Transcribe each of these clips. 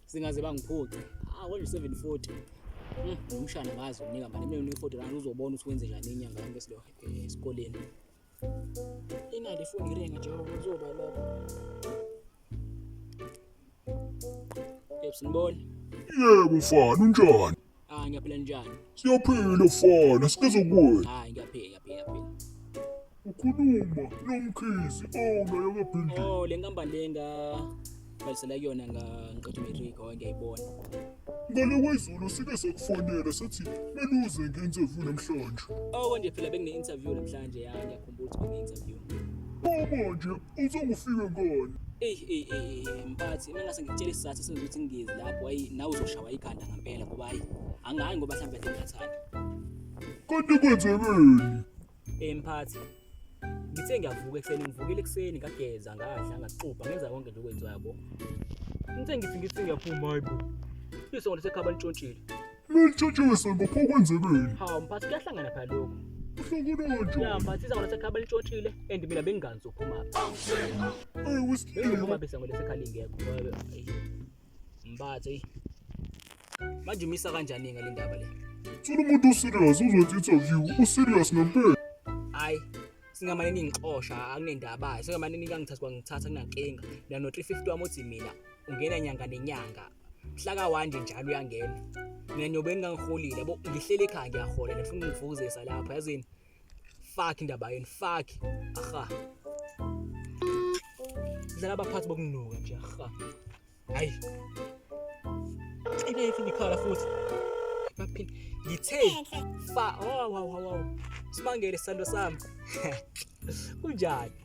singaze bangiphuce ah kodwa 740 hmm, umshana ngazi unika mali mina unika 40 rand uzobona ukuthi wenze njani inyanga yonke silo eh, esikoleni Inali ifoni iringa njengoba kuzoba lokho. Yebo sinibona. Yebo mfana unjani? Ah ngiyaphila njani? Siyaphila mfana sibiza kuwe. Ah ngiyaphila ngiyaphila ngiyaphila. Ukhuluma nomkhizi owunayo kaBhindi. Oh le nkampani lenga Ngalisela kuyona ngiqeda umatric oke ngiyayibona. Ngale kwezulu sike sekufonela sathi beluze nge-interview namhlanje. Oko nje phela bekune-interview namhlanje ya ngiyakhumbula ukuthi bekune-interview. Bobo nje uzongifike ngani? Eyi eyi eyi eyi, mphathi uma ngase ngikutshele isizathu esenza ukuthi ngingezi lapho ayi nawe uzoshawa ikhanda ngempela ngoba ayi angayi ngoba mhlawumbe ngingathanda. Kanti kwenzekeni? Eh mphathi. Ngithe ngiyavuka ekuseni ngivukile ekuseni ngageza ngadla ngaxubha ngenza konke nje okwenziwa yabo. Ngithe ngithi ngithi ngiyaphuma hayi bo. Iso ngithe khaba litshontshile. Lelitshotshiwe sonke pho kwenzekeni? Hawu mphathi kuyahlangana phela lokho. Uhlangana kanjani? Ya mphathi iza ngithe khaba litshontshile and mina bengingazi ukuphuma. Eh usikile. Bengiphuma bese ngolese khali ngekho. Mbathe. Manje umisa kanjani ngale ndaba le? Thola umuntu userious uzokwenza interview, userious ngempela. Hayi, singamane ningixosha akunendaba hayi singamane nikangithatha kwangithatha kunankinga mina no 350 wami uthi mina ungena nyanga nenyanga mhlaka wanje njalo uyangena mina niyobeni ngangiholile yabo ngihlele ekhaya ngiyahola nifuna ungivukuzisa lapha yazini fuck indaba yenu fuck aha dlala abaphathi bokunuka nje aha hayi ibe ifini khala futhi baphini ngithe fa oh wow wow wow simangele sando sami kunjani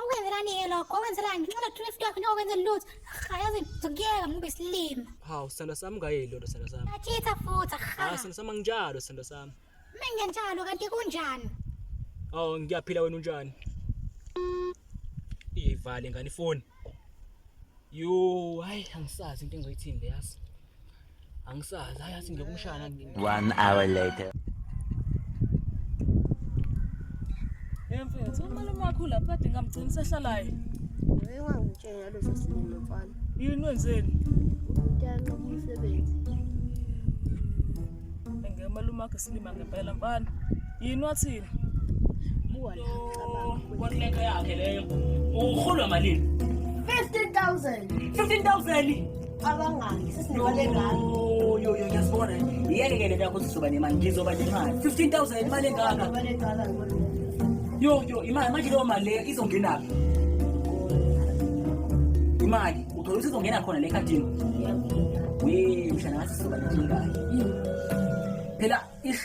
okwenzekani ke lokho okwenzekani ngenxa lokhu lift yakho nokwenze lutho hayazi ngizokuyeka ngoba isilima hawu sithando sami ungayeli loo nto sithando sami athitha futhi ha hayi sithando sami anginjalo sithando sami mina ngenjalo kanti kunjani awu ngiyaphila wena unjani iyivale ngani ifoni yo hayi angisazi into engizoyithini leyazi Angisazi, hayi athi ngiyokumshaya One hour later. Hey mfethu, umalume wakho lapha kade ngamgcina usehlalayo. Wewe wangitshela lesi sinema mfana. Yini wenzeni? Uyanqaba umsebenzi. Ngeke umalume wakho silima ngempela mfana. Yini wathini? Buwa la. Kwakulento yakhe leyo. Uholwa malini? 15000. 15000. abangaki sesinemali engaka yasibona yeke ke lento yakho sizoba nemali ngizoba nemali 15000 imali engaka yo yo imali manje leyo mali leyo izongenaphi imali uthola ukuthi izongena khona le ekhadini we mshana ngathi sizoba nenkingayo phela ish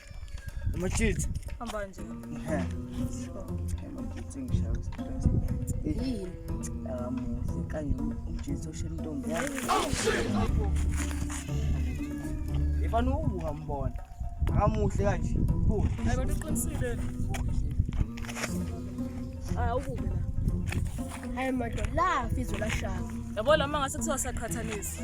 Umachitsi. Hamba nje. Ehe. Umachitsi ngishaya stress. Yini? Akamuhle kanye umjitsi oshela intombi yakhe. Ifana ubuka mbona. Akamuhle kanje. Buka. Hayi bantu uqinisile. Ah ukuke la. Hayi madoda, la fizwe la shaka. Yabo lama ngase kuthiwa saqhathanisa.